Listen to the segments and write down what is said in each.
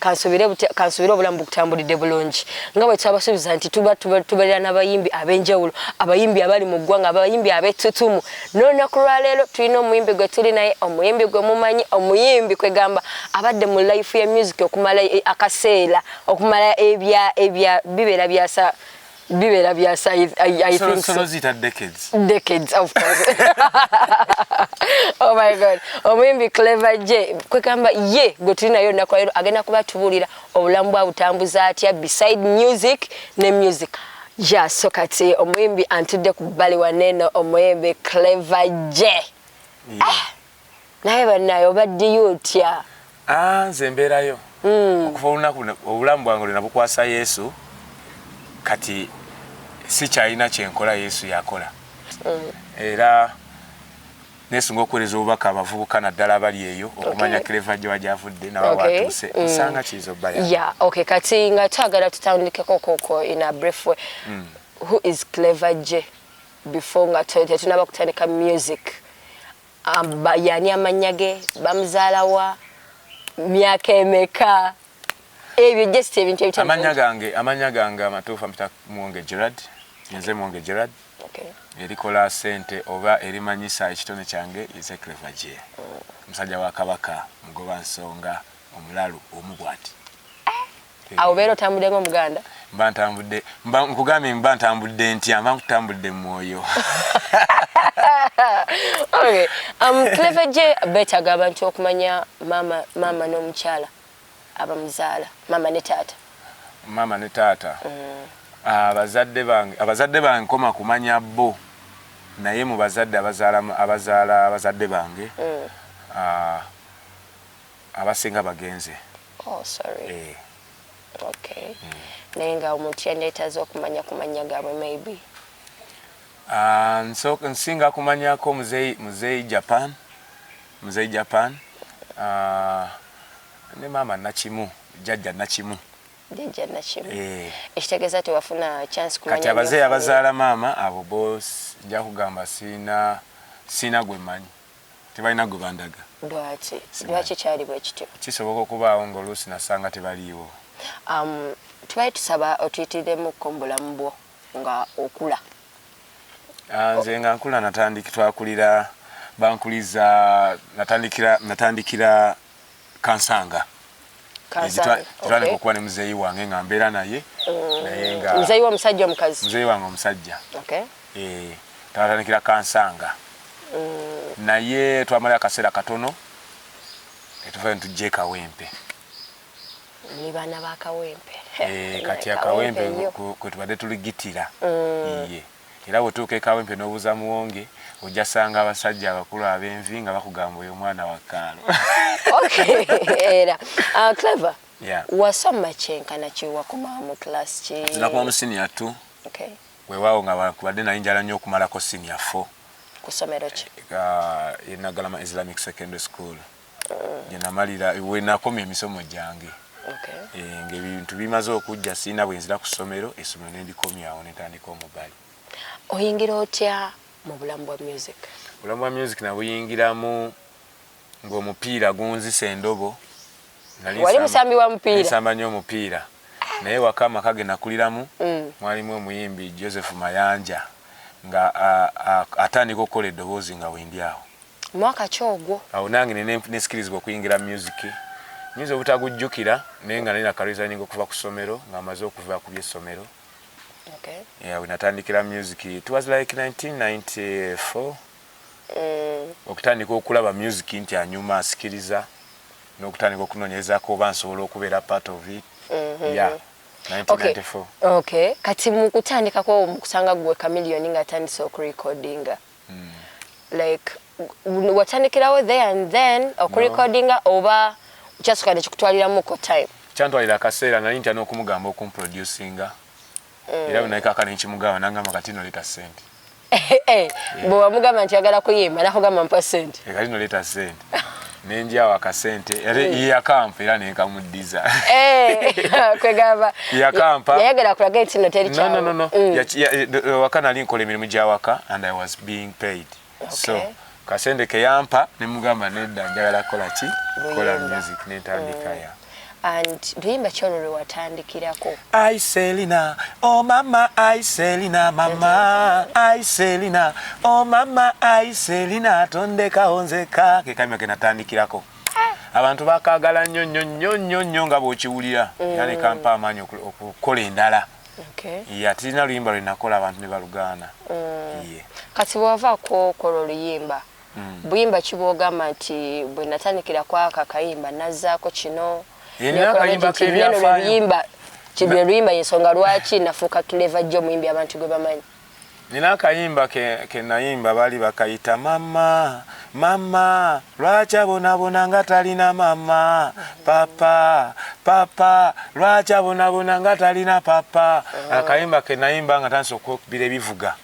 kansubire kansubire obulamu bukutambulidde bulungi nga bwe twabasuubiza nti tuba tubeera n'abayimbi ab'enjawulo abayimbi abali mu ggwanga abayimbi ab'ettutumu n'olunaku lwaleero tulina omuyimbi gwe tuli naye omuyimbi gwe mumanyi omuyimbi kwegamba abadde mu life ya music okumala e, akaseera okumala ebya ebya bibeera byasa bibera bya size i, I so, think so, so. zita decades decades of course oh my god omuyimbi clever j kwekamba ye gwe tuli nayo olunaku lero agenda kuba tubuulira obulamu bwa butambuza atya beside music ne music ya so kati omuyimbi antudde ku bbali waneno omuyimbi clever j yeah. ah. naye banaye obaddiyo otya ah, nze mbeerayo mm. okuva olunaku obulamu bwange lwena bukwasa yesu kati sikyalina kyenkola yesu yakola mm. era nesunga okuwereza obubaka abavubuka naddala abali eyo okumanya okay. cleva gye wajavudde naba okay. watuuse mm. osanga kiyinza obbaya yeah, okay. kati nga twagala tutandikeko koko in a brief way mm. who is cleva gye before nga tetunaba kutandika music Ba yani amannya ge bamuzaala wa myaka emeka ebyo just ebintu ebitali amannya gange amannya gange amatuufu ampita mwonge Gerard nze mwonge Gerard okay. erikola sente oba erimanyisa ekitone kyange ize clever je musajja wa kabaka mugoba nsonga omulalu omu bwati awo beera otambudde nga omuganda mba ntambudde mba nkugambye mba ntambudde ntya mba nkutambudde mu mwoyo um, cleve gye beetaga abantu okumanya maama maama n'omukyala abamuzaala maama ne taata maama ne taata mm. abazadde bange abazadde bange nkoma kumanya bo naye mu bazadde abazaala abazaala abazadde bange mm. ah, abasinga bagenze oh, sorry. Eh. Okay. Mm. naye nga omuntu yandeetaza okumanya ku mannya gaabwe maybe uh, nso, nsinga kumanyako muzeyi, muzeyi japan muzeyi japan uh, ne maama nakimu jajja nakimu jajja nakimu eh. ekitegeeza tewafuna chance kumanya kati abazeyi abazaala maama abo bo nja kugamba siina siina gwe manyi tebalina gwe bandaga. Lwaki? Lwaki kyali bwe kityo? Kisoboka okubaawo ng'oluusi nasanga tebaliiwo. Um, tubali tusaba otuyitiriremukko mu bulamu bwo nga okula. Ah, nze nga nkula natandiki twakulira bankuliza natandikira natandikira kansanga twanika okuba ne muzeeyi wange nga mbeera naye mm. naye nga muzeeyi womusajja omukazi muzeeyi wange omusajja eh, twatandikira kansanga mm. naye twamala akaseera katono netuvayo netujja ekawempe muli baana bakawempe eh, kati akawempe kwetubadde tuligitira mm. iye Era bw'otuuka e Kawempe n'obuuza Muwonge, ojja kusanga abasajja abakulu ab'envi nga bakugamba oyo mwana wa Kaalo. Okay, era. Uh, Clever, yeah. wasoma kyenkana ki wakomawo mu class ki? Nakoma mu senior two. Okay. Weewaawo nga bakubadde naye njala nnyo okumalako senior four. Ku ssomero ki? Uh, Naggalama Islamic Secondary School. gyenamalira wenakomya emisomo gyange eh, ngaebintu bimaze okujja sirina bwenzira ku ssomero essomero nendikomyawo netandika omubali oyingira otya mu bulamu bwa music obulamu bwa music nabuyingiramu ngaomupiira gunzisa endobo wali musambi wa mupiira nsamba nyo omupiira naye waka amaka ge nakuliramu mm. mwalimu omuyimbi joseph mayanja nga atandika okukola eddoboozi nga wendi awo mwaka ki ogwo awo nange nesikirizibwa okuyingira music nyinza obutagujjukira naye nga nalina karesigning okuva ku ssomero nga amaze okuva ku byessomero okay. yeah, wenatandikira music it was like 1994 mm. okutandika okulaba music nti anyuma asikiriza n'okutandika okunonyerezako oba nsobola okubeera part of it mm -hmm. yeah. Okay. okay. kati mukutandikako mukusanga gwe kamiliyoni nga atandise okurekodinga like watandikirawo there and then okurecordinga oba kyasuka nekikutwaliramuko time kyantwalira akaseera nali ntya n'okumugamba okumproducinga mm. era bwenakaka nenkimugamba nangamba kati noleta sente eh, eh, eh. bwewamugamba nti yagala kuyimba nakugamba mpa sente kati noleta sente nenjawo akasente era mm. yakampa era nenkamuddiza eh, kwegamba yakampa yayagala kulaga nti no teri kyawo no, no, no. Mm. Ya, ya, eh, waka nali nkola emirimu gya waka and i was being paid okay. so kasente keyampa nemugamba nedda njagala kukola ki kola music nentandika mm. ya and luyimba ki olwo lwe watandikirako ai selina o oh mama ai selina mama ai selina o oh mama ai selina tondekawo nzeka ke kayimba ke natandikirako abantu bakagala nnyo nnyo nnyo nnyo nnyo nga bw'okiwulira mm. yani kampa amaanyi okukola endala ye atirina luyimba lwe nakola abantu ne balugaana mm. kati bwewava kwokola oluyimba mm. buyimba ki bwogamba nti bwe natandikira kwako akayimba nazzaako kino luyimba kibye luyimba yensonga lwaki nafuuka tuleva jjo omuyimbi abantu gwe bamanyi nina akayimba ke nayimba baali bakayita mama mama lwaki abonabona nga talina mama papa papa lwaki abonabona nga talina papa akayimba ke nayimba nga tandisa okukubira ebivuga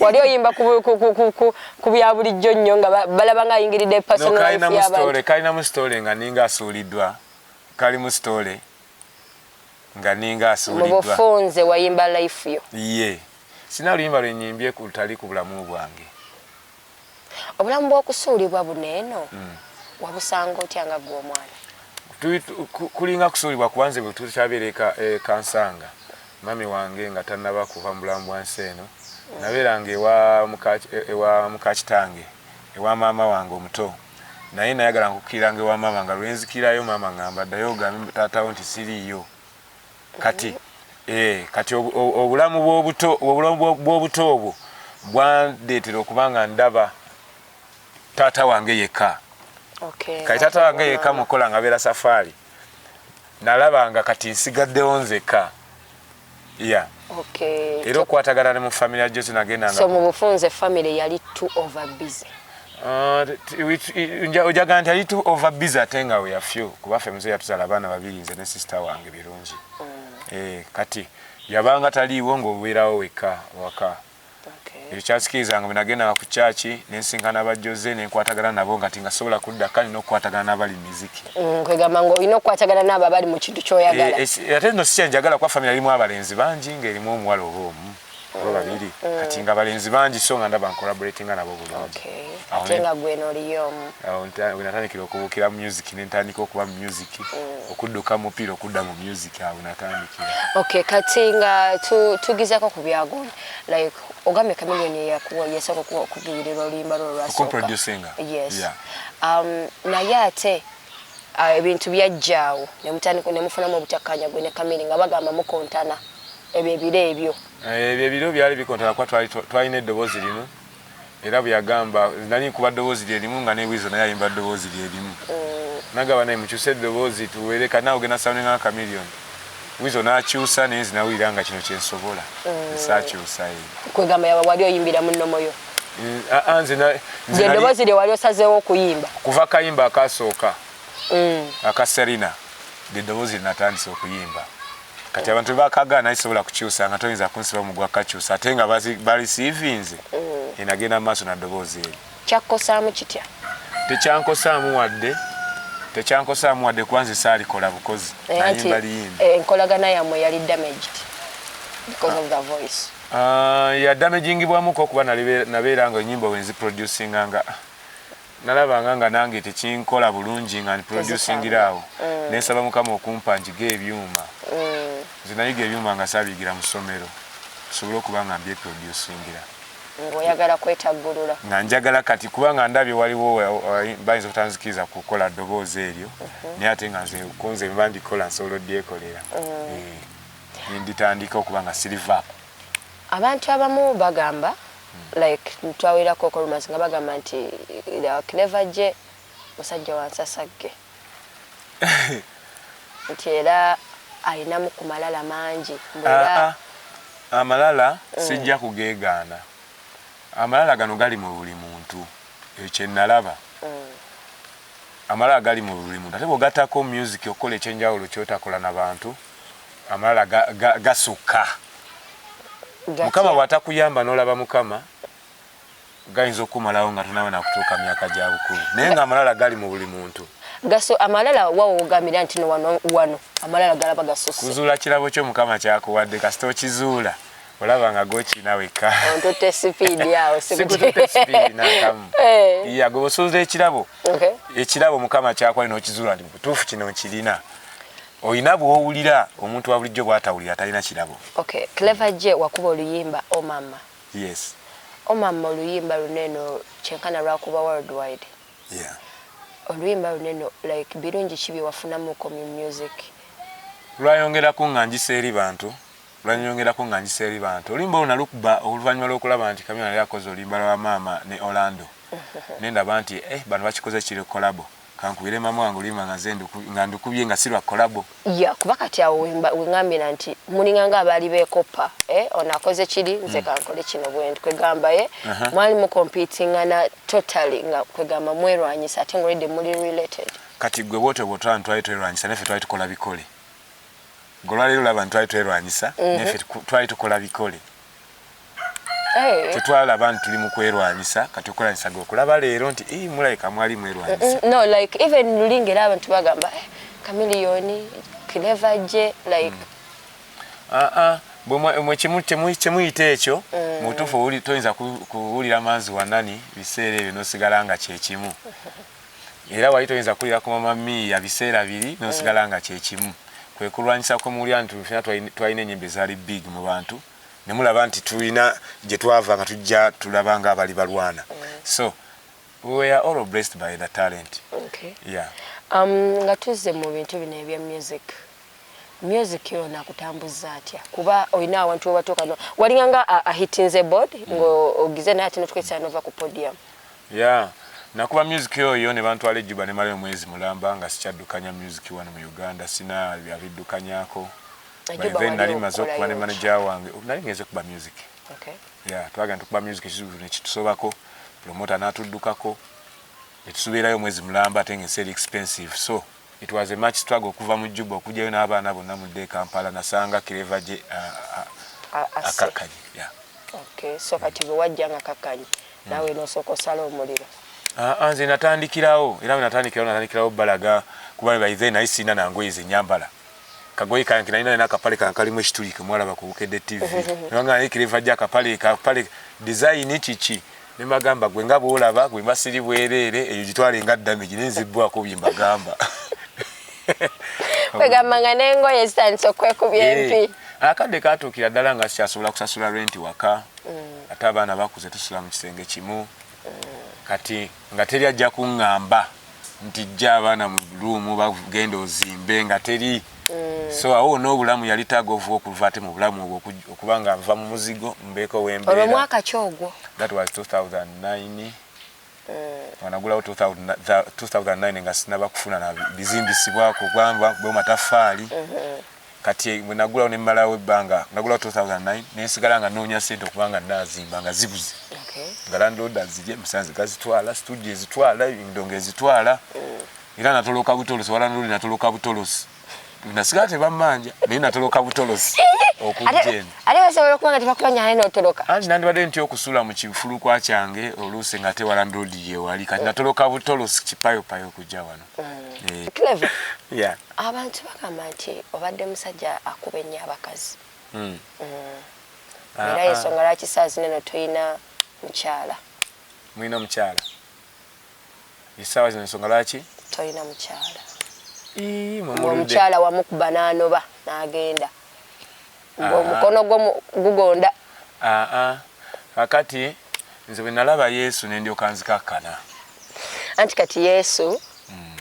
wali oyimba ku bya bulijjo nnyo nga balaba nga ayingiridde personalkalinamu sitole nga ninga asuuliddwa kalimu sitole nga ninga asuuliddwamubufunze wayimba life yo ye sina luyimba lwenyimbye kutali ku bulamu bwange Obulamu bw'okusuulibwa buno eno wabusanga otya nga ggwe omwana? Kulinga kusuulibwa kuba nze bwe tutabeera e, e Kansanga mami wange nga tannaba kuva mu bulamu bwa nsi eno nabeeranga ewa muka kitange ewa maama wange omuto naye nayagala nkukkiranga ewa maama nga lwenzikirayo maama ngamba ddayo ogambe taatawo nti siriiyo kati eh, kati obulamu bwobuto obulamu bwobuto obwo bwandeetera okuba nga ndaba taata wange yekka okay, kati taata wange yekka mukola nga beera safaari nalaba nga kati nsigaddewo nzekka ya yeah. okay. era okwatagana ne mu family ya Jesse nagenda so mu bufunze family yali too over busy ah, ojaga nti ali too over busy ate nga we afew kuba ffe mzee yatuzala abaana babiri nze ne sister wange birungi mm. eh, kati yabanga taliiwo ng'obeerawo wekka waka ekyo kyasikiriza nga bwenagendanga ku kyaki nensinkana aba Jose nenkwatagana nabo nga tinga sobola kudda kale nokukwatagana nabali miziki mm, kwegamba nga olina okukwatagana naabo abali mu kintu kyoyagala eh, eh, ate no sikyanjagala kuba famire erimu abalenzi bangi nga erimu omuwala oba omu oba mm, babiri mm. kati nga abalenzi bangi so nga ndaba ncollaboratinga nabo bulungi ate nga gwenoliyo omu wenatandikira okubuukira mu music nentandika okuba mu music ki okudduka mupiira okudda mu music awo natandikira okay kati nga tugizako ku byagundi like ogambye kamilioni eyakuwa yasooka okuwa okuduyirirwa oluyimba lwo lwasokuproducinga yes yeah. um, naye ate uh, ebintu uh, byajjaawo nemutandika nemufunamu obutakkaanya gwe ne kamili nga bagamba mukontana ebyo ebiro ebyo eh, ebyo ebiro byali bikontana kuba twalina eddoboozi limu era bweyagamba nali nkuba ddoboozi lyerimu nga ne Weasel naye ayimba ddoboozi lyerimu nagamba naye mukyuse eddoboozi tuwere kati nawe ogenda soundinga nga Chameleon Weasel nakyusa naye nze nawulira nga kino kyensobola esaakyusa mm. ye kwegamba yaba wali oyimbira mu nnomo yo anze mm, nze eddoboozi lye wali osazeewo okuyimba kuva kayimba akasooka mm. aka Serena lye ddoboozi lye natandise okuyimba kati abantu bakaga naye sobola kukyusa nga toyinza kunsiba mu gwa kakyusa ate nga balisiivinze mm. enagenda mu maaso na ddoboozi eri kyakkosaamu kitya tekyankosaamu wadde tekyankosaamu wadde kuba nze saalikola bukozi eh, nayimba liyimba eh, enkolagana yammwe yali damaged because of the voice ah, yadamagingibwamuko okuba nabeera nga enyimba wenzi producinga nga Nalabanga nga nange tekinkola bulungi nga ndi producingira awo nensaba mukama okumpa njige ebyuma. Nze nayiga ebyuma nga sabiyigira mu ssomero nsobole okuba nga mbyeproducingira. Nga oyagala kwetaggulula. Nga njagala kati kuba nga ndabye waliwo bayinza obutanzikiriza kukola ddoboozi eryo naye ate nga nze kunze bwemba ndikola nsobola odyekolera nenditandika okuba nga siri vaako. Abantu abamu bagamba like twawulirako ko rumors nga bagamba nti uh, clever je musajja wansasagge nti era alinamu ku malala mangi ah, ah. amalala mm. sijja kugeegaana amalala gano gali mu buli muntu ekyo kyenalaba mm. amalala gali mu buli muntu ate bwogatako music okukola ekyenjawulo kyotakola na bantu amalala gasukka mukama bwatakuyamba nolaba mukama gayinza okukumalawo nga tonawe nakutuuka myaka gya bukulu naye nga amalala gali mu buli muntu gaso amalala wawogamira nti wano wano amalala galaba gasosi kuzuula kirabo kyo mukama kyakuwadde kasita okizuula olaba nga gokina wekka ontute sipiidi awo sikutute sipiidi nakamu eh. ya gwe osuuza ekirabo ekirabo mukama kyakuwadde nokizuula nti mubutuufu kino nkirina olina bwowulira omuntu wabulijjo bwatawulira talina kirabo okay. clever je wakuba oluyimba omama oh, yes omama oh, oluyimba luneno kyenkana lwakuba worldwide yeah. oluyimba oh, luneno like birungi ki byewafunamuko mu music lwayongerako nga njisa eri bantu lwanyongerako nga njisa eri bantu olimba oluna lukuba oluvannyuma lwokulaba nti kamyona yali akoze oluyimba lwa maama ne orlando nendaba nti eh, bantu bakikoze kiri kolabo Kankubire mamu wange oluyimba nga nze nga ndukubye nga si lwa kolabo. Ya kuba kati awo wengambira nti mulinga nga abaali beekoppa eh, ono akoze kiri nze hmm. kankole kino bwendi kwegamba ye eh? mwali mukompitingana totally nga kwegamba mwerwanyisa ate ngolidde muli related. Kati gwe bwotyo bwotwala ntwali twerwanyisa nafe twali tukola bikole. Golwaleero laba ntwali twerwanyisa hmm. nafe twali tukola bikole. Eh. tetwalaba nti tuli mu kwerwanyisa kati okulanyisa ge okulaba leero nti ii mulabika mwali mwerwanyisa no like even lulinga era abantu bagamba eh, kamiliyoni kileva gye like mm. ah, ah. kyemuyita ekyo mm. mubutuufu toyinza kuwulira manzi wanani biseera ebyo nosigala nga kyekimu era wali toyinza kulira ku mama miiya biseera biri nosigala mm. nga kyekimu kwekulwanyisa kwemuwulira nti fena twalina enyimba ezaali big mu bantu nemulaba nti tulina gyetwava nga tujja tulaba nga abali balwana mm. so we are all blessed by the talent okay. yeah. um, nga tuzze mu bintu bino ebya music music yo nakutambuzza atya kuba olina awantu webatuuka walinga nga ahitinze board mm. ng'ogize naye ate notukwetisa nova ku podium ya nakuba music yoyo ne bantwala ejjuba ne malayo mwezi mulamba nga sikyaddukanya music wano mu uganda sina abiddukanyako then nali maze okuba ne manaja wange nali ngenze kuba music ya twagenda tukuba music ekizibu nekitusobako promota natuddukako netusubeerayo omwezi mulamba ate nga ensi eri expensive so It was a much struggle okuva mu Juba okujayo n'abaana bonna mudde e Kampala nasanga Clever gye akakkanye. Yeah. Okay, so kati bwe wajja nga kakkanye hmm. naawe mm. nosooka osala omuliro. Ah, ah, nze natandikirawo era natandikirawo natandikirawo balaga kuba by then naye sirina nangoye zenyambala kagoye kange nalina nina akapale kange kalimu ekituli ke mwalaba ku Bukedde TV nanga naye kireva gya akapale kapale dizayini kiki ne magamba gwe nga bw'olaba gwe masiri bwereere eyo gitwale nga damage naye nzibbwako bye mbagamba kwegamba nga n'engoye zitandise okwekubya eh, empi akadde katuukira ddala nga sikyasobola kusasula renti waka mm. ate abaana bakuze tusula mu kisenge kimu mm. kati nga teri ajja kungamba nti jja abaana mu luumu bagenda ozimbe nga teri mm. so awo wona obulamu yali taga ovuba okuva ate mu bulamu obwo okuba nga nva mu muzigo mbeeko wembeeraomwaka ki ogwo that was 2009 wanagulawo 2009 nga sinaba kufuna na bizimbisibwako gwamba bwe matafaali mm-hmm. kati bwenagulawo nemalawo ebbanga nagulawo 2009 nensigala nga noonya sente okuba nga nazimba nga zibuze nga landlord azirye musanze gazitwala studio ezitwala endongo ezitwala era natoloka butolosi walandlord natoloka butolosi nasigala tebamanja naye natoloka butolosi nandibadde nti okusula mu kifulukwa kyange oluusi nga tewalandlord yewali kati natoloka butolosi kipayopayo okujja wano mm. clever yeah. abantu bagamba nti obadde musajja akuba ennyo abakazi mm. mm. Ah, era ah. ensonga lwaki saa zino no tulina mukyala mulina omukyala esaawa zino ensonga lwaki tolina mukyala omukyala wamukuba nanoba nagenda ng'omukono gwo gugonda. Kakati nze bwe nalaba Yesu ne ndyoka nzikakkana. Anti kati Yesu hmm.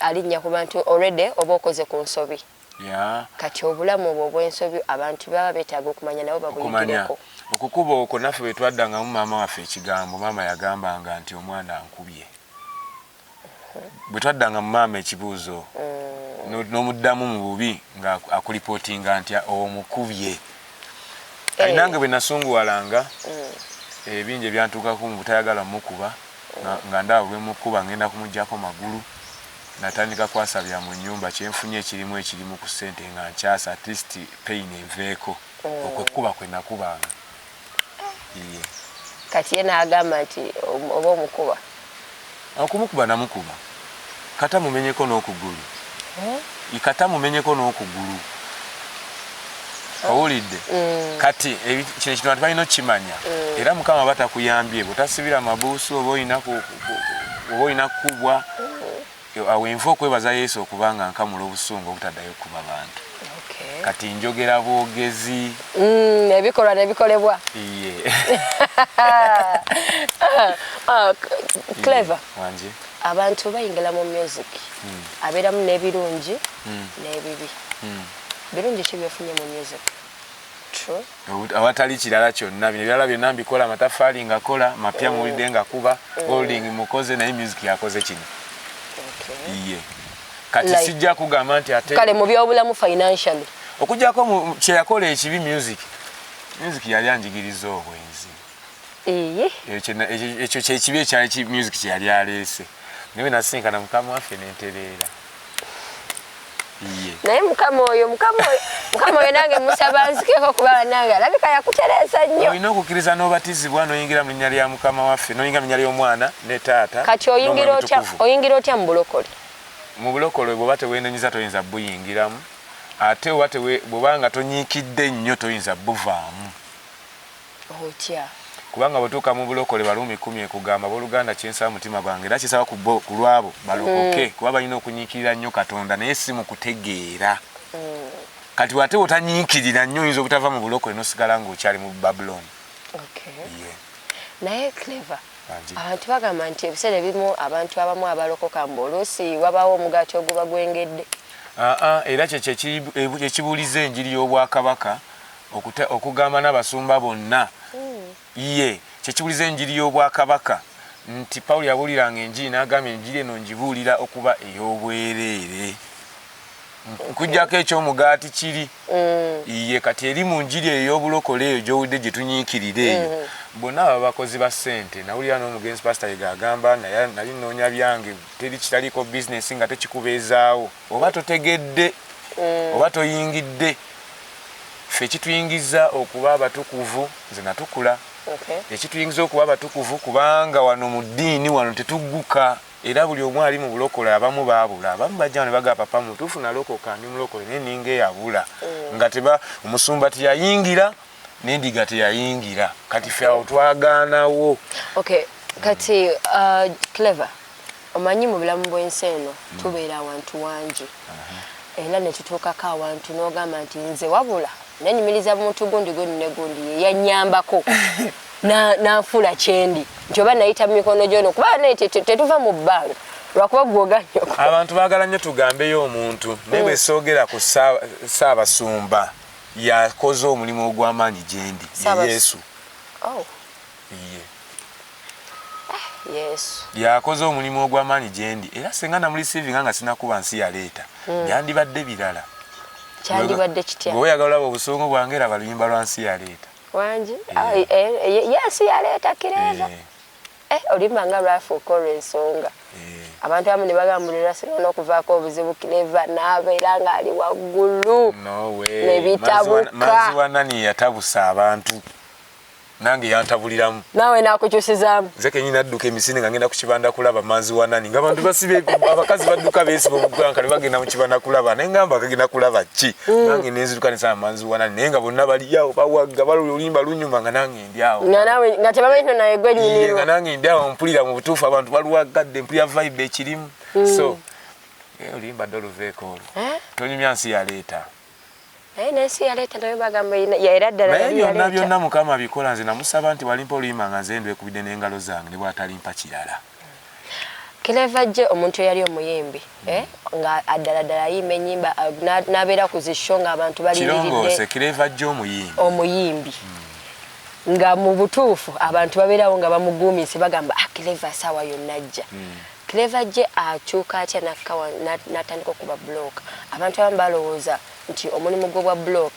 alinnya ku bantu already oba okoze ku nsobi. Kati obulamu obwo obw'ensobi abantu baba beetaaga okumanya nabo babuyigireko. Okukuba okwo naffe bwe twaddangamu maama waffe ekigambo, maama yagambanga nti omwana ankubye. bwe twaddanga mu maama ekibuuzo mm. n'omuddamu mu bubi nga akulipootinga nti omukubye kati eh. nange bwe nasunguwalanga mm. ebingi ebyantuukako mu butayagala mukuba nga ndaba bwemukuba ngenda kumugjako magulu natandika kwasabya mu nyumba kyenfunye ekirimu ekirimu ku sente nga nkyasa atleast pain enveeko mm. okwekuba kwenakubanga kati ye n'agamba nti oba omukuba okumukuba namukuba kata mumenyeko n'okugulu eh? kata mumenyeko n'okugulu owulidde mm. kati eh, kino ekintu bantu balina okukimanya mm. era mukama aba takuyambye bwetasibira mabuusi oba olina oba olina kukubwa Awo wenva okwebaza Yesu okuba nga nkamula obusungu obutaddayo kuba bantu. Kati njogera bwogezi. Mm, ebikolwa nebikolebwa. Iye. Ah, clever. Wanje. Abantu bayingila mu music. Mm. Aberamu nebirungi mm. nebibi. Mm. Birungi ki byofunye mu music? True. awatali kirala kyonna bino ebirala byonna mbikola amataffaali ngakola mapya muwulidde nga kuba mm. holding mukoze naye music yakoze kino iye kati sijja kugamba nti ate kale mu byobulamu financially okujjako kyeyakola ekibi music music yali anjigiriza obwenzi ekyo kyekibi ekyali music kyeyali aleese naye nasinkana mukama waffe nentereera naye mukama oyo mukama oyo mukama oyo nange musaba nzikeko kuba banange alabika yakutereeza nnyo olina okukkiriza n'obatizibwa noyingira mu linnya lya mukama waffe noyingira mu linnya ly'omwana ne taata kati oyingira otya mu bulokole mu bulokole bwoba tewenenyiza toyinza buyingiramu ate oba bwoba nga tonyiikidde nnyo toyinza buvaamu otya. Kubanga bwotuuka mu bulokole Baruumi kumi ekugamba, Abooluganda, kye nsaba mutima gwange era kye nsaba ku bo, ku lw'abo balokoke, mm. kuba balina okunyiikirira nnyo Katonda naye si mu kutegeera. Mm. Kati bw'ate bwotanyiikirira nnyo oyinza obutava mu bulokole n'osigala ng'okyali mu Babulooni. Naye Clever, abantu bagamba nti ebiseera ebimu abantu abamu abalokoka mbu oluusi wabaawo omugaati oguba gwengedde. Aa, era kyekyo ekibuuliza enjiri y'obwakabaka Okuta, okugamba n'abasumba bonna, yee, kye kibuliza Enjiri y'Obwakabaka, nti Pawulo yabuuliranga Enjiri, n'agamba, Enjiri eno ngibuulira okuba ey'obwereere. Nkuggyako eky'omugaati kiri, yee, kati eri mu Njiri eyo ey'obulokole eyo gy'owulidde gye tunyiikirira eyo. Bonna baba bakozi ba ssente. Nawulira n'omugenzi Pasita Yiga agamba, Naye, nnali nnoonya byange. Teri kitaliiko bizinensi ng'ate kikubeezaawo. oba totegedde mm. oba toyingidde fe ekituyingiza okuba abatukuvu nze natukula ekituyingiza okuba abatukuvu kubanga wano mu ddiini wano tetugguka era buli omu ali mu bulokola abamu baabula abamu bajja ne bagaa papa mutuufu nalokoka ndi mulokole naye ninga eyabula mm. nga teba omusumba teyayingira nendiga teyayingira kati fe awo twagaanawo kati uh, clever Omanyi mu bulamu bw'ensi eno mm. tubeera awantu wangi era ne tutuukako awantu n'ogamba nti nze wabula nanyumiriza muntu gundi gundi ne gundi ye yannyambako n'anfuula kyendi nti oba nayita mu mikono gyono kuba naye tetuva mu bbanga lwakuba gwoganyo abantu baagala nnyo tugambeyo omuntu naye bwe mm. soogera ku saabasumba yakoze omulimu ogw'amaanyi gyendi ye yesu oh. Iye. Yesu. Yakoze omulimu ogw'amaanyi gye ndi era singa namulisiivinga nga sinakuba nsi yaleeta hmm. byandibadde birala. Kyandibadde kitya? Gwe oyagala olaba obusungu bwange laba luyimba lwa nsi yaleeta. Wangi? Eh. Eh, eh, Yesu yaleeta kireeza. Olimba nga lwafuuka olw'ensonga. abantu abamu ne bagambulira sirina n'okuvaako obuzibu kireva n'abeera ng'ali waggulu ne bitabuka. Maziwa nani yatabusa abantu? nange yantabuliramu nawe nakukyusizaamu nze kenyini nadduka emisinde nga ngenda ku kibanda kulaba manzi wa nani nga bantu basibe abakazi badduka beesiba omuganka ne bagenda mu kibanda kulaba naye ngamba kagenda kulaba ki mm. nange nenziruka nesaba manzi wa nani naye nga bonna baliyawo bawagga baluluyimba lunyuma nga nange ndyawo nga tebamanyi nti naye gwe nyumirwa nga nange ndyawo mpulira mu butuufu abantu baluwaggadde mpulira vibe ekirimu mm. so eh, oluyimba doluveeko olwo eh? tonyumya nsi yaleeta naye nensi yaleeta nayo bagamba era ddala naye byonna byonna mukama bikola nze namusaba nti walimpa oluyima nga nze ndwekubidde n'engalo zange ne bwatalimpa kirala kileva jje omuntu eyali omuyimbi eh, nga addala ddala ayimba enyimba eh, nabeera ku zisho nga abantu balirongose kileva jje omuyimbi omuyimbi hmm. nga mu butuufu abantu babeerawo nga bamuguumise bagamba akileva ah, saawa yonna ajja hmm. Clever Jay akyuka atya nakka wano na- natandika okuba block? Abantu abamu balowooza nti omulimu gw'obwa block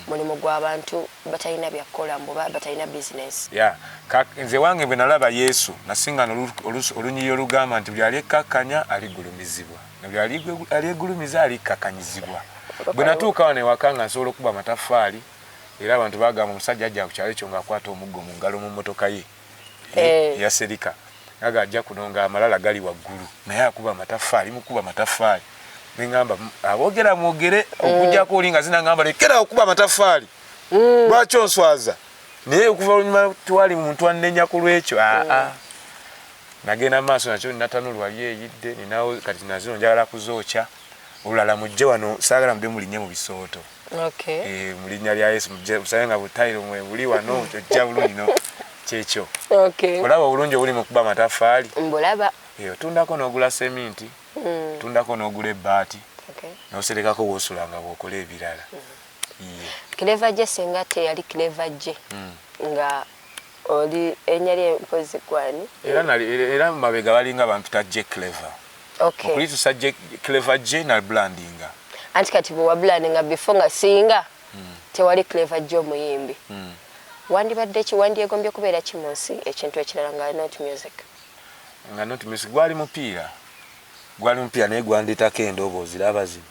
mulimu gwa bantu batalina bya kukola mbu oba batalina business. Yeah. Ka, nze wange bwe nalaba Yesu nasinga no lu- olusu- olunyiriri olugamba nti buli alyekkakkanya aligulumizibwa na buli alyegwe- alyegulumiza alikkakanyizibwa. Bwe natuuka wano ewaka nga nsobola okukuba amataffaali era abantu bagamba omusajja ajja ku kyalo ekyo ng'akwata omuggo mu ngalo mu mmotoka ye. eh. yaserika aga ajja kuno nga amalala gali waggulu naye akuba amataffaali mukuba amataffaali neŋamba abogera mwogere eh. okujjako oli nga zinaŋamba lekera okuba amataffaali hmm. lwaki onswaza naye okuva olunyuma twali muntu annenya ku lwekyo aa hmm. ah, ah. nagenda maaso nakyo natanulwali eyidde ninawo kati nazino njagala kuzookya olulala mujje wano saagala mube mulinye mu bisooto eh, mu linnya lya yesu mujje musabe nga butayiro mwe buli wano ojja bulungi no kyekyo olaba obulungi obuli mu kuba amataffaali mbulaba eh, otundako n'ogula seminti mm. otundako n'ogula ebbaati n'oserekako woosula nga bwokola ebirala mm. cleva gye singa teyali cleva gye mm. nga Oli erinnya lye mpozzi ggwe ani? Era nali era era mabega balinga bampita Jay Clever. Okay. Okulitusa Jay Clever Jay na brandinga. Anti kati bwe wabulandinga before nga singa tewali Clever Jay omuyimbi. Wandibadde ki? Wandyegombye kubeera ki mu nsi? Ekintu ekirala nga not music? Nga not music gwali mupiira. Gwali mupiira naye gwandeetako endoboozi. Laba zino.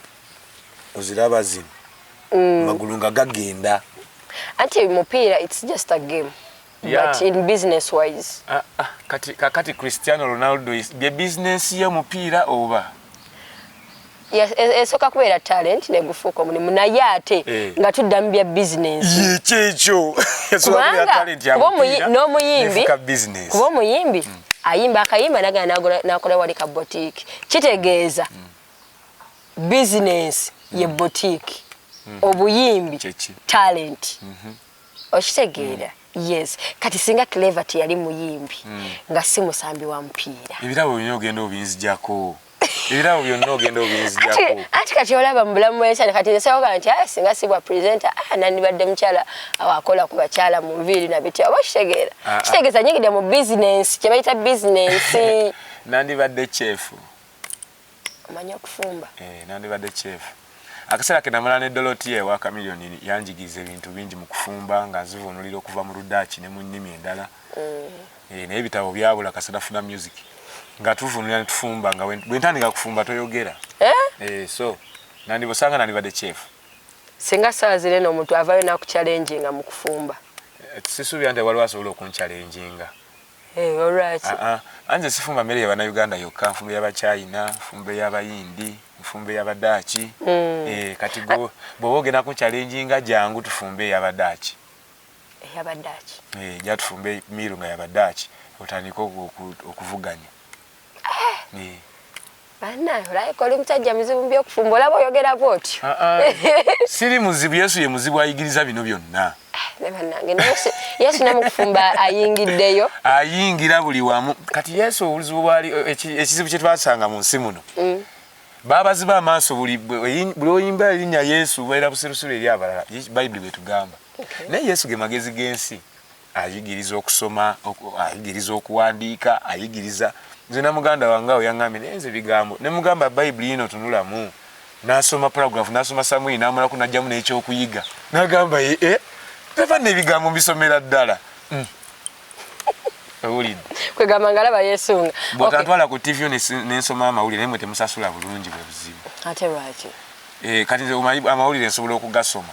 oziraba zino mm. magulu nga gagenda anti mupiira its just a game yeah. but in business wise ah, ah, kati, kati cristiano ronaldo bye business ye mupiira oba esooka e, e kubeera talent negufuuka omulimu naye ate eh. nga tudda mu bya bizinesiyekyekyo kubanga n'omuyimbi kuba omuyimbi hmm. ayimba akayimba nagana nakola wali ka botiki kitegeeza hmm. bizinensi ye mm. boutique mm. obuyimbi talenti mm-hmm. okitegeera mm. yes kati singa clever teyali muyimbi nga si musambi wa mupiira ebirabo byonna ogenda obinzijako ebirabo byonna ogenda obinzijako anti kati olaba mu bulamu bwekyana kati nsewoga nti ah, singa sibwa presenta ah, nandibadde mukyala awakola ku bakyala mu nviiri nabitya oba okitegeera ah, kitegeeza nyigide mu bizinensi kyebayita bizinensi nandibadde kyefu omanyi okufumba eh, nandibadde chef akaseera ke namala ne dolotiya ewa kamiliyoni yanjigiriza ebintu bingi mu kufumba nga nzivuunulira okuva mu ludaaki ne mu nnimi endala mm. eh, naye ebitabo byabula kasada funa music nga tuvuunulira ne tufumba nga bwe ntandika kufumba toyogera eh? Eh, so nandibosanga nandibadde chef singa saawa zirena omuntu avayo nakucalenjinga mu kufumba sisuubira nti waliwo asobola okuncalenjinga Hey, eh, olwaki? Uh ah, -uh. Ah. Anze sifumba mere yabana Uganda yokka, nfumbe yaba China, nfumbe yaba Hindi, nfumbe yaba Dutch. Mm. Eh, kati go bobo gena ku challenge nga jangu tufumbe yaba Dutch. Eh, yaba Dutch. Eh, ja tufumbe miru nga yaba Dutch. Otandika okuvuganya. banaye olabika oli musajja muzibu mu byokufumba olaba oyogera bwotyo ah, ah. siri muzibu yesu ye muzibu ayigiriza bino byonna eh, banange yesu namukufumba ayingiddeyo ayingira buli wamu kati yesu obuzibu bwali eh, ekizibu kyetwasanga mu nsi muno mm. babaziba amaaso buli oyimba erinnya yesu baira busirusiru eri abalala bayibuli bwetugamba naye yesu ge magezi g'ensi ayigiriza okusoma ayigiriza okuwandiika ayigiriza nze na muganda wange awo yaŋambye naye nze bigambo ne mugamba bayibuli yino tunulamu nasoma paragraf nasoma samwiri namulaku najjamu n'ekyokuyiga nagamba ye e eh, tava nebigambo mbisomera ddala hmm. owulidde kwegamba nga alaba yesunga bwekantwala ku tv nensoma amawulire naye mwe temusasula bulungi bwe buzibu ate lwaki eh, kati amawulire nsobola okugasoma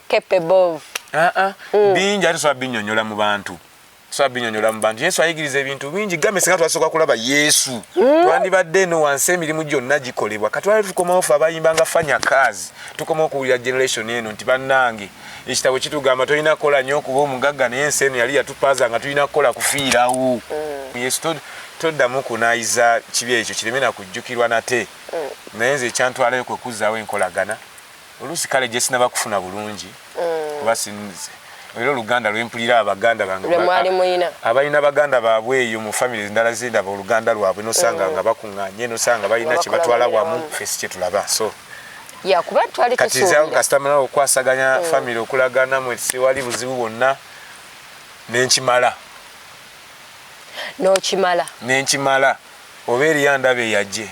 capable of ah ah mm. bingi ate sobola binyonyola mu bantu sobola binyonyola mu bantu yesu ayigiriza ebintu bingi gambe singa twasooka kulaba yesu mm. twandibadde eno wansi emirimu gyonna gikolebwa katwale tukomawo fe abayimba nga fanya kazi tukomawo okuwulira generation eno nti bannange ekitabo kitugamba tolina kukola nnyo okuba omugagga naye ensi eno yali yatupaaza nga tulina kukola kufiirawo mm. yesu toddamu kunayiza kibi ekyo kireme nakujjukirwa nate mm. naye nze ekyantwalayo kwekuzaawo enkolagana oluusi kale gyesinaba kufuna bulungi mm. kuba sinze era oluganda lwempulira abaganda bangeabalina baganda baabwe eyo mu famiry endala zindaba oluganda lwabwe nosanga mm. nga bakuŋŋanye nosanga balina kyebatwala wamu fesi kyetulaba so katizankasitamala okwasaganya mm. famiry okulagana mwe siwali buzibu bwonna nenkimala nokimala nenkimala oba eriyo ndaba eyajje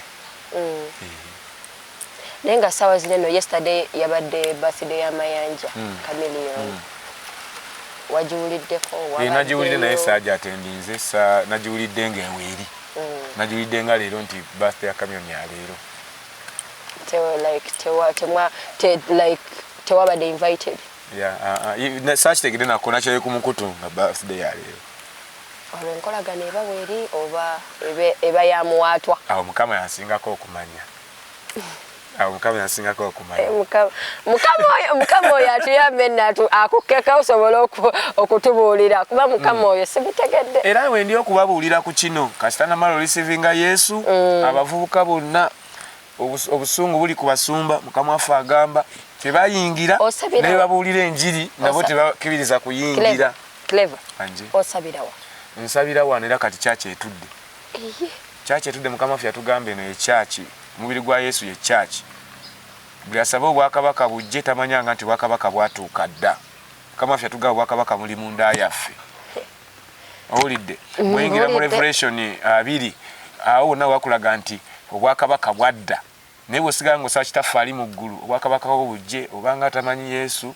naye nga sawa zino eno yesterday yabadde birthday ya mayanja hmm. chameleon hmm. wagiwuliddeko eh, nagiwulidde naye saaja atendinze sa nagiwulidde nga eweeri hmm. nagiwulidde nga leero nti birthday ya chameleon ya leero tewabadde invited ah, ah, sakitegede nako nakyoye ku mukutu nga birthday ya leero olwo enkolagana eba weeri oba eba yamuwaatwa awo mukama yansingako okumanya awo mukama yasingako okumanya eh, mukama oyo atuyambe natu akukkeka osobola okutubuulira kuba mukama mm. oyo simutegedde era wendi okubabuulira ku kino kasita namala olisivinga yesu mm. abavubuka bonna obusungu buli ku basumba mukama waffe agamba tebayingira naye babuulira enjiri nabo tebakibiriza kuyingira nsabira wano era kati kyakyeetudde Church etude mukama waffe yatugamba eno ye church omubiri gwa yesu ye church buli asaba obwakabaka bujje tamanyanga nti obwakabaka bwatuuka dda mukama waffe yatugamba obwakabaka buli munda yaffe owulidde muyingira mu revelation abiri awo wonna wakulaga nti obwakabaka bwadda naye bwesigala nga osaba kitaffe ali mu ggulu obwakabaka bwo bujje obanga atamanyi yesu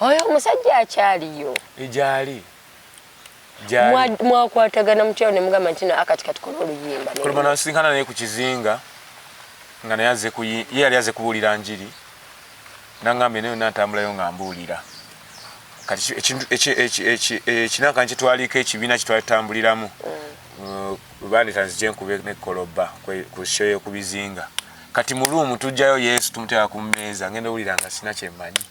Oyo omusajja akyaliyo. Gyali. Gyali. Mwakwatagana mutyawo ne mugamba nti na akati katukole oluyimba. Kuluma nasinkana naye ku kizinga nga naye aze kuyi ye yali aze kubuulira njiri nangambye naye yonna ntambulayo nga mbuulira kati ekintu ekinaka nkitwaliiko ekibiina kyetwatambuliramu mm. uh, bandita nzije nkube nekoloba ku show yokubizinga kati mu room tujjayo yesu tumuteeka ku mmeeza ngenda owulira nga sina kyemmanyi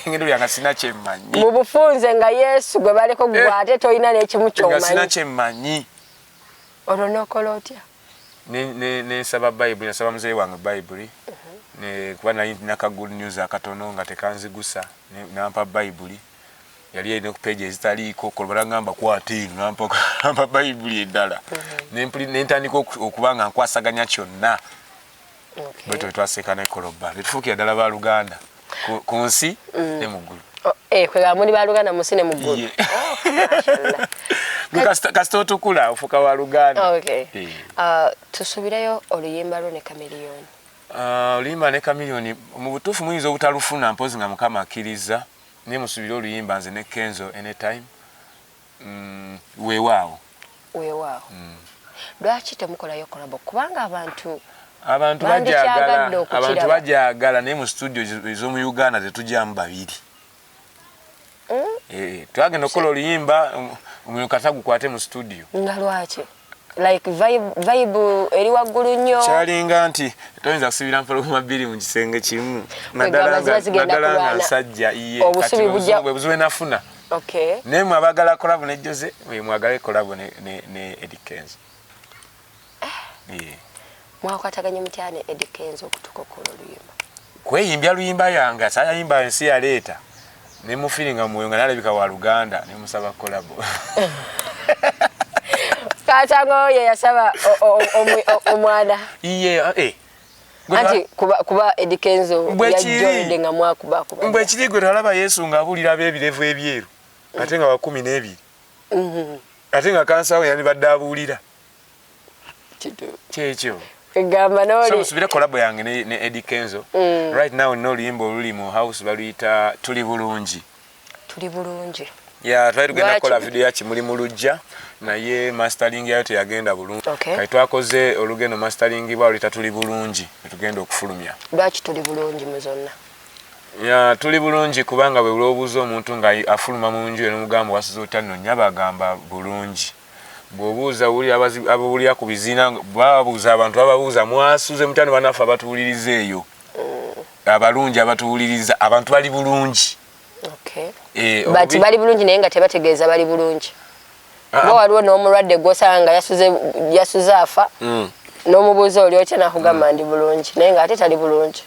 ngenda owulira nga sina kyemmanyi mu bufunze nga yesu gwe baliko eh. gwe ate tolina n'ekimu kyomanyi kyemmanyi olwo n'okola otya nensaba bayibuli nasaba muzeeyi wange bayibuli mhm. kuba nali naka good news akatono nga tekanzigusa nampa bayibuli yali yalina ku page ezitaliiko kolobala ngamba kwata eno nampamba bayibuli endala mm-hmm. nentandika okuba nga nkwasaganya kyonna bwe twe twaseka ne koloba netufuukira ddala ba luganda ku nsi mm. ne mu ggulu oh, eh, kwegamba muli ba luganda mu nsi ne mu ggulu oh, kasita otukula ofuuka wa luganda eh. uh, tusubireyo oluyimba lwo ne kamiriyoni uh, oluyimba ne kamiriyoni mu butuufu muyinza obutalufuna mpozi nga mukama akkiriza Naye musubire oluyimba nze ne Kenzo anytime. Mm, wewaawo. Wewaawo. Mm. Lwaki temukolayo kolabo kubanga abantu abantu bajagala abantu bajagala naye mu studio ez'omu Uganda tetugyamu babiri. Mm? Eh, twagenda okukola oluyimba um, omuliro kata gukwate mu studio. Nga lwaki? like vibe vibe eri waggulu nnyo kyalinga nti toyinza kusibira mpologoma bbiri mu kisenge kimu naddala nga nsajja iye bwebuzibu enafuna naye mwe abagala kolabo ne jose mwagala ekolabo ne edikenzo eh. mwakwataganye mutya ne Eddy Kenzo okutuuka okukola oluyimba kweyimbya luyimba yange sayayimba ensi yaleeta ne mu feeling mwoyo nga nalabika wa Luganda ne musaba collab Katango ye yasaba omwana iye eh anti kuba kuba Eddy Kenzo ya joined nga mwakuba kuba mbwe kiri gwe talaba Yesu nga abulira bebirevu ebyeru ate nga wakumi n'ebiri mhm. ate nga kansa we yani badde abuulira kyekyo egamba noli musubire collab yange ne, ne Eddie Kenzo mm. right now no luyimba oluli mu house baluyita tuli bulungi tuli bulungi ya twali tugenda kukola video ya kimuli mu lujja naye mastering yayo teyagenda bulungi okay. kati twakoze olugendo mastering bwa oluyita tuli bulungi netugenda okufulumya lwaki tuli bulungi mu zonna ya tuli bulungi kubanga bwe buloobuuza omuntu nga afuluma mu nju eno mugambo wasiza otya nno nyabagamba bulungi bwobuuza wulira abawulira ku biziina babuuza abantu bababuuza mwasuze mutya nebanaffe abatuwuliriza eyo mm. abalungi abatuwuliriza abantu bali bulungi eh, but bali bulungi naye nga tebategeeza bali bulungi ah, ah. ba waliwo n'omulwadde gwosanga nga yasuze afa mm. n'omubuuza oli otya nakugamba mm. ndi bulungi naye nga ate tali bulungi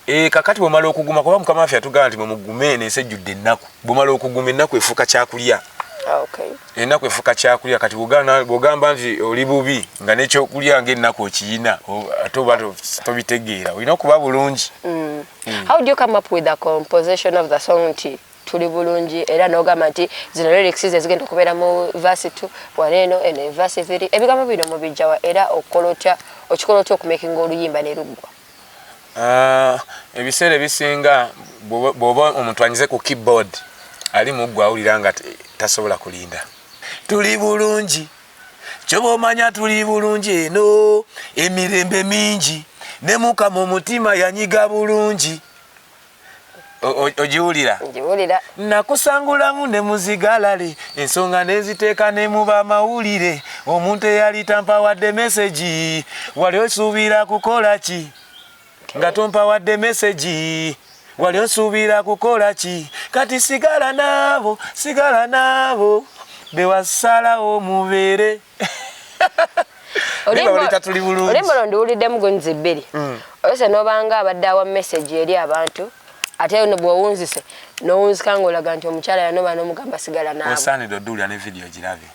Eh, kakati bwemala okuguma kuba mukama waffe yatugamba nti mwemugume eno ensi ejjudde ennaku bwemala okuguma ennaku efuuka kyakulya ah, ennaku efuuka kyakulya kati bwogamba nti oli bubi nga nekyokulya nga ennaku okiyina ate oba tobitegeera olina okuba bulungi mm. Mm. nti tuli bulungi era nogamba nti zino lyrics zezigenda okubeera mu vasi t waneeno eno evasi thiri ebigambo bino mubijjawa era okikola otya okikola otya okumakinga oluyimba neruggwa Ah, ebiseera ebisinga bwoba omuntu anyize ku keyboard ali muggwa awulira nga tasobola kulinda tuli bulungi kyoba omanya tuli bulungi eno emirembe mingi ne mukama omutima yanyiga bulungi ogiwulira ngiwulira nakusangulamu ne muzigalale ensonga neziteeka ne mu bamawulire omuntu eyali tampawadde mesegi wali osuubira kukola ki nga tompawadde mesegi wali osuubira kukola ki kati sigala naabo sigala naabo bewasalawo mubeere olimba londiwuliddemu gunzi bbiri mm. ose nobanga abadde awa message eri abantu ate no bwowunzise nowunzika ngaolaga nti omukyala yanoba nomugamba sigala naweosaanidde oduulira ne vidiyo girabe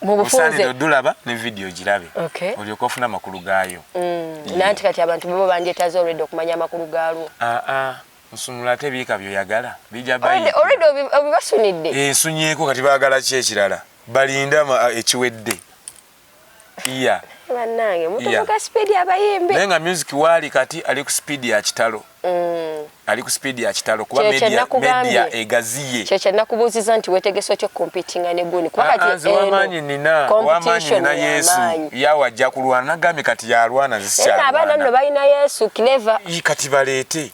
mubufunze odulaba ne video girabe okay. olyoka ofuna amakulu gaayo mm. nanti kati abantu bebo bandyetaze olwedde okumanya amakulu gaalwo ah, ah. Nsumula ate biika byoyagala bija bayiika. Already obibasunidde. Eh, nsunyeko kati bagala ki ekirala. Balinda eh, ekiwedde. Iya. Banange mutuvuka speed ya bayimbi. Naye nga music wali kati ali ku speed ya kitalo. Mm. Ali ku speed ya kitalo kuba media media egazi. kyekya nakubuuziza nti wetegese otya okumpitinga ne guni kubakanzi wamaanyi nina wamaanyi nina yesu yawe ajja kulwana nagambye kati yalwana nzisikyaera abaana nno balina yesu cleva kati baleete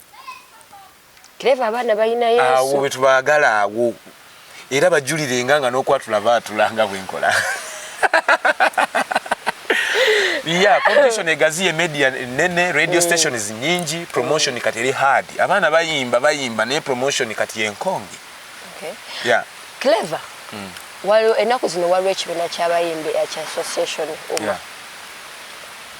cleva abaana balina yesu awo bwetubagala awo era bajulirenga nga nokwatula baatulanga bwenkola yeah competition egaziye media nene radio mm. stations nyingi promotion kati eri hard abaana bayimba bayimba naye promotion kati yenkonge okay. yeah. clever mm. waliwo ennaku zino waliwo ekibiina ky'abayimbi ekya association uma yeah.